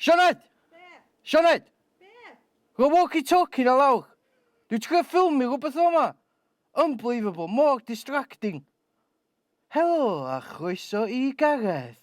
Sioned! Sioned! Rho walkie talkie na lawr. Dwi'n trio ffilmio rhywbeth yn fama. Unbelievable, mor distracting. Helo a chroeso i Gareth.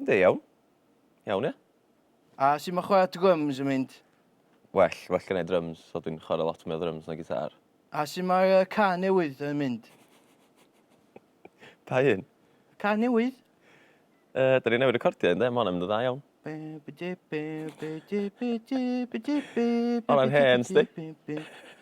Ynddi, iawn. Iawn, ia. A sut mae chwarae drums yn mynd? Well, well gen i drums, so dwi'n chwarae lot mwy o drums na gitar. A sut mae'r uh, car newydd yn mynd? Pa un? Y car newydd? Uh, da ni newid recordio un, de? Mae hwnna'n mynd yn dda iawn. Hwna'n hen, sti?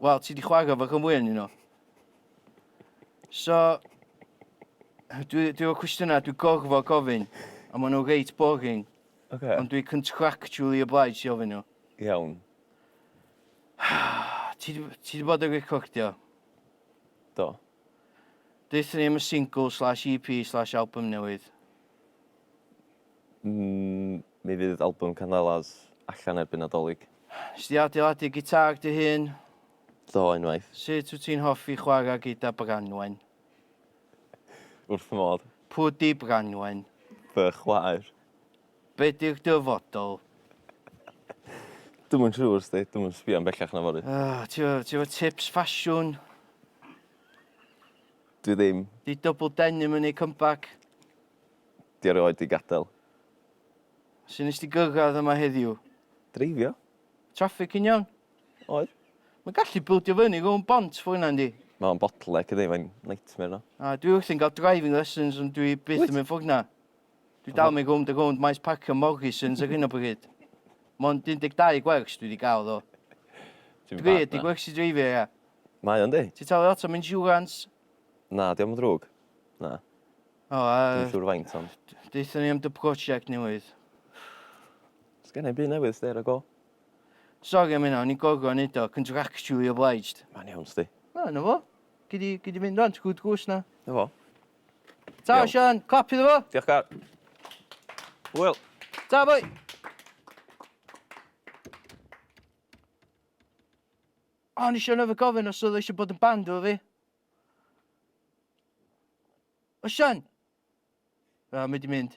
Wel, ti di chwaga fo cym wyn, you know. So, dwi, dwi efo cwestiynau, dwi gorfod gofyn, a maen nhw reit boring, okay. ond dwi contractually obliged i ofyn nhw. Iawn. ti, di, ti di bod yn recordio? Do. Deutha ni am y single slash EP slash album newydd. Mm, mi fydd albwm Candelas allan erbyn Nadolig. Nes di adeiladu gitâr dy hun? Do, unwaith. Sut wyt ti'n hoffi chwarae gyda Branwen? Wrth fy modd. Pw di Branwen? Fy chwaer. Be di'r dyfodol? Dwi'm yn siŵr, sti. Dwi'm yn sbio yn bellach na fory. Ah, ti efo, ti efo tips ffasiwn? Dwi ddim. Di double denim yn ei comeback? Di erioed di gadael. Su nes di gyrraedd yma heddiw? Dreifio. Traffig yn iawn? Oedd. Mae'n gallu bildio fyny rownd bont for yna yndi? Mae o'n bottleneck yndi, mae'n nightmare yno. A, dwi wrthi'n cael driving lessons ond dwi byth Wyt? yn mynd for yna. Dwi dal yn mynd rownd a rownd maes parcio Morrisons ar hyn o bryd. Mond 12 gwers dwi wedi gael ddo. Ti'n Dwi bad di na. gwersi dreifio ia. Mae o'n di. Ti'n talu lot am insurance? Na, diolch yn ddrwg. Na. O, a... Dwi'n siŵr faint ond. Deutha ni am dy prosiect newydd. Sgen i byd newydd sti ar y go. Sori am hynna, o'n i'n gorfod neud o, contractually obliged. Mae'n iawn sti. Na, na fo. Gei di, gei di mynd rwan, ti'n gwrdd gwrs na. Na fo. Ta, Sian, clap iddo fo. Diolch, Gar. Wyl. Ta, boi. O, nes i anofio gofyn os oedd eisiau bod yn band efo fi. Osian! Wel, mae di mynd.